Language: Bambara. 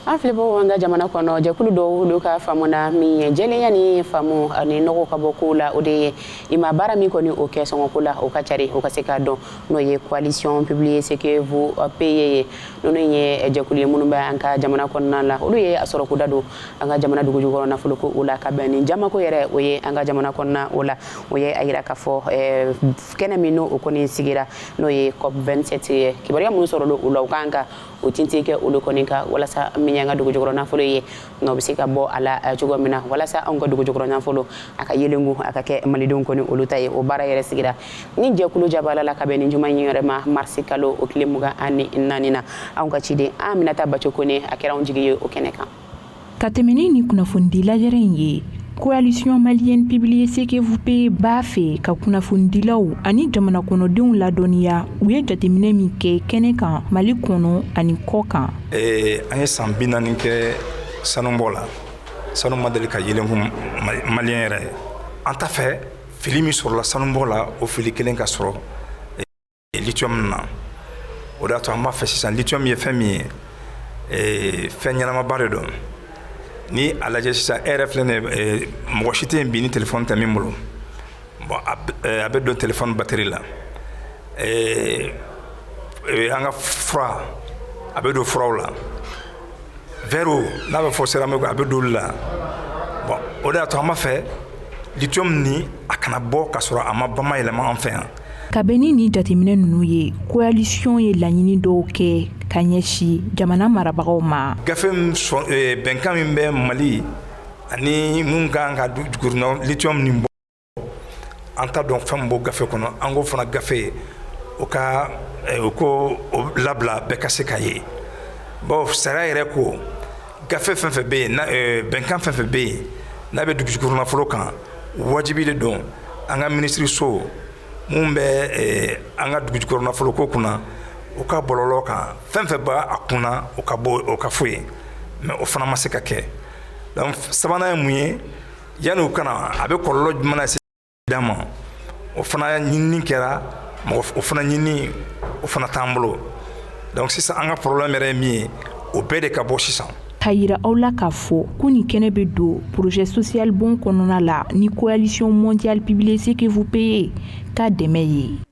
an filɛbagaw an ka jamana kɔnɔ jɛkulu dɔw olu ka faamu na min ye jɛlenya ni faamu ani nɔgɔ ka bɔ kow la o de ye i ma baara min kɔni o kɛ sɔngɔko la o ka cari o ka se k'a dɔn n'o ye coalition publiez ce que vous payez ye ninnu ye jɛkulu ye minnu bɛ an ka jamana kɔnɔna la olu ye a sɔrɔko da don an ka jamana dugujukɔrɔ nafolo ko o la ka bɛn ni jamako yɛrɛ o ye an ka jamana kɔnɔna o la o ye a yira k'a fɔ eh, kɛnɛ min n'o o kɔni sigira n'o ye cop 27 ye kibaruya minnu sɔrɔla o la u kan ka o tintin kɛ olu kɔni kan walasa min y'an ka dugu jukɔrɔ nafolo ye nɔgɔ bɛ se ka bɔ a la eh, cogo min na walasa anw ka dugu jukɔrɔ nafolo a ka yelengu a ka kɛ malidenw kɔni olu ta ye o baara yɛrɛ sigira ni jɛkulu jabala la ka bɛn ni juma in yɛrɛ ma marisi kalo o tile mugan ani naani na anw ka ciden aminata baco kone a kɛra anw jigi ye o kɛnɛ kan ka tɛmɛni ni kunnafonidi lajɛrɛ in ye coalition malienne publiez ce que vous payez b'a fɛ ka kunnafonidilaw ani jamana kɔnɔdenw ladɔnniya u ye jateminɛ min kɛ kɛnɛ kan mali kɔnɔ ani kɔ kan eh, an ye san bi naani kɛ sanubɔ la sanu ma deli ka yelenku maliyɛn yɛrɛ an t'a fɛ fili min sɔrɔla sanubɔ la o fili kelen ka sɔrɔ lithium na o de y'a to an b'a fɛ sisan lithium ye fɛn min ye ee, fɛn ɲɛnamaba de don ni a lajɛ sisan e yɛrɛ filɛ nin ye mɔgɔ si tɛ yen bi ni telefɔni tɛ min bolo bon a bɛ don telefɔni bateri la ee, ee, an ka fura a bɛ don furaw la vɛriw n'a bɛ fɔ seramiki a bɛ don olu la bon o de y'a to an b'a fɛ lithium nin a kana bɔ ka sɔrɔ a ma bamayɛlɛma an fɛ yan ka bɛn ni jateminɛ ninnu ye koalisiɔn ye laɲini dɔw kɛ ka ɲɛsi jamana marabagaw ma gafe eh, bɛnkan min bɛ mali ani minnu kan ka jukɔrɔna lithium nin bɔ an t'a dɔn fɛn min b'o gafe kɔnɔ an ko fana gafe o ka eh, u k'o labila bɛɛ ka se k'a ye bon sariya yɛrɛ ko Gafe fɛn fɛn bɛ yen bɛnkan fɛn fɛn bɛ yen n'a bɛ dugujukɔrɔ nafolo kan wajibi de don an ka minisiririso minnu bɛ an ka dugujukɔrɔ nafoloko kunna u ka bɔlɔlɔ kan fɛn fɛn b'a kunna u ka bɔ o ka fɔ yen mais o fana ma se ka kɛ donc sabanan ye mun ye yanni u ka na a bɛ kɔlɔlɔ jumɛn lase d'an ma o fana ɲinini kɛra mɔgɔ o fana ɲinini o fana t'an bolo donc sisan an ka problème yɛrɛ ye min ye o bɛɛ de ka bɔ sisan k'a yira aw la k'a fɔ ko nin kɛnɛ bɛ don projet social bonds kɔnɔna la ni coalition mondiale publiez ce que vous payez ka dɛmɛ ye